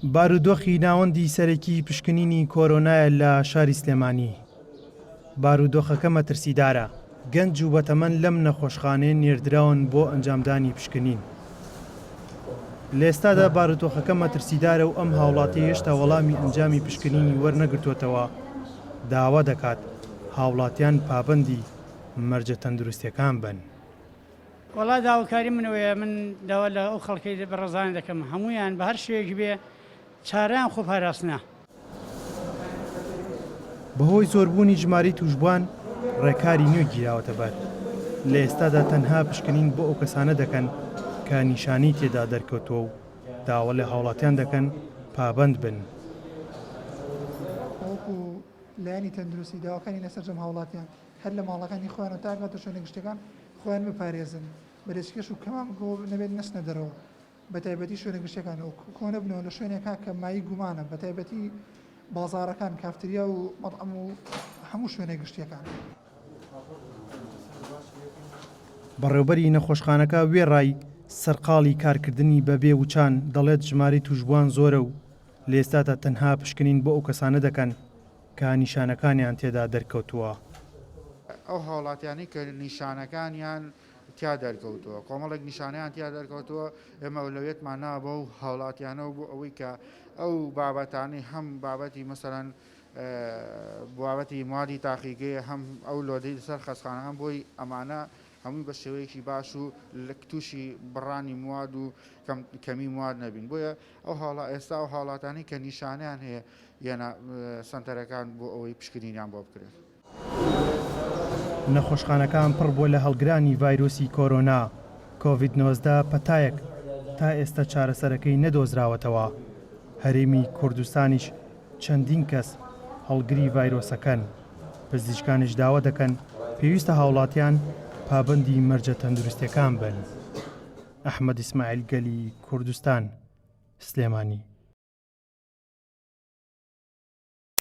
بارودۆخی ناوەندی سەرەکی پشکنینی کۆرۆنایە لە شاری سلێمانی، بارودۆخەکە مەترسیدارە، گەنج و بەتەمەن لەم نەخۆشخانەیە نێردراون بۆ ئەنجامدانی پشکنین. لە ئێستادا بارودۆخەکە مەترسیدارە و ئەم هاوڵاتیە هێشتا وەڵامی ئەنجامی پشکنینی وەرنەگرتووەتەوە، داوا دەکات هاوڵاتیان پابەندی مەرجە تەندروستیەکان بن. وەڵا داوکاری من ئەوەیە من داوا لە ئەو خەڵکەی بە ڕەزانە دەکەم هەموویان بە هەر شێوەیەکی بێ چارەیان خۆ پاراستنە. بەهۆی زۆربوونی ژمارەی تووشبوان ڕێکاری نوێ گیراوەتە بەر، لە ئێستادا تەنها پشکنین بۆ ئەو کەسانە دەکەن کە نیشانەی تێدا دەرکەوتووە و داوا لە هاوڵاتیان دەکەن پابەند بن. بەوەکو لایەنی تەندروستی داواکانی لە سەرجەم هاوڵاتیان. هەر لە ماڵەکانی خۆیان و تا ئەگاتە شوێنە گشتیەکان خۆیان بپارێزن بە لەچکێش و کەمام گۆ نەبێت نەچنە دەرەوە بە تایبەتی شوێنە گشتیەکان و کۆنەبنەوە لە شوێنێکا کە مایەی گومانە بە تایبەتی بازاڕەکان کافتریا و مەتعەم و هەموو شوێنە گشتیەکان. بەڕێوبەری نەخۆشخانەکە وێڕای سەرقاڵی کارکردنی بە بێ وچان دەڵێت ژمارەی توشبوان زۆرە و لە ئێستاتا تەنها پشکنین بۆ ئەو کەسانە دەکەن. کە نیشانەکانیان تێدا دەرکەوتووە. ئەو هاوڵاتیانەی کە نیشانەکانیان تیا دەرکەوتووە کۆمەڵێک نیشانەیان تیا دەرکەوتووە ئێمە ئەولەویەتمان ناوە بەو هاوڵاتیانەوە بۆ ئەوەی کە ئەو بابەتانەی هەم بابەتی مەسەلەن بابەتی مادی تاقیگەیە هەم ئەو لۆدەی لەسەر خەستخانە هەم بۆی ئەمانە هەمووی بە شێوەیەکی باش و تووشی بڕانی مواد و کەمی مواد نەبین بۆیە ئەو هاڵا ئێستا ئەو هاڵاتانەی کە نیشانەیان هەیە یەنە سەنتەرەکان بۆ ئەوەی پشکنینیان بۆ بکرێت. نەخۆشخانەکان پڕ بووە لە هەڵگرانی ڤایرۆسی کۆرۆنا کۆڤید نۆزدە پەتایەک تا ئێستا چارەسەرەکەی نەدۆزراوەتەوە، هەرێمی کوردستانیش چەندین کەس هەڵگری ڤایرۆسەکەن، پزیشکانیش داوا دەکەن پێویستە هاوڵاتیان پابەندی مەرجە تەندروستیەکان بن. ئەحمەد ئیسماعیل گەلی کوردستان، سلێمانی.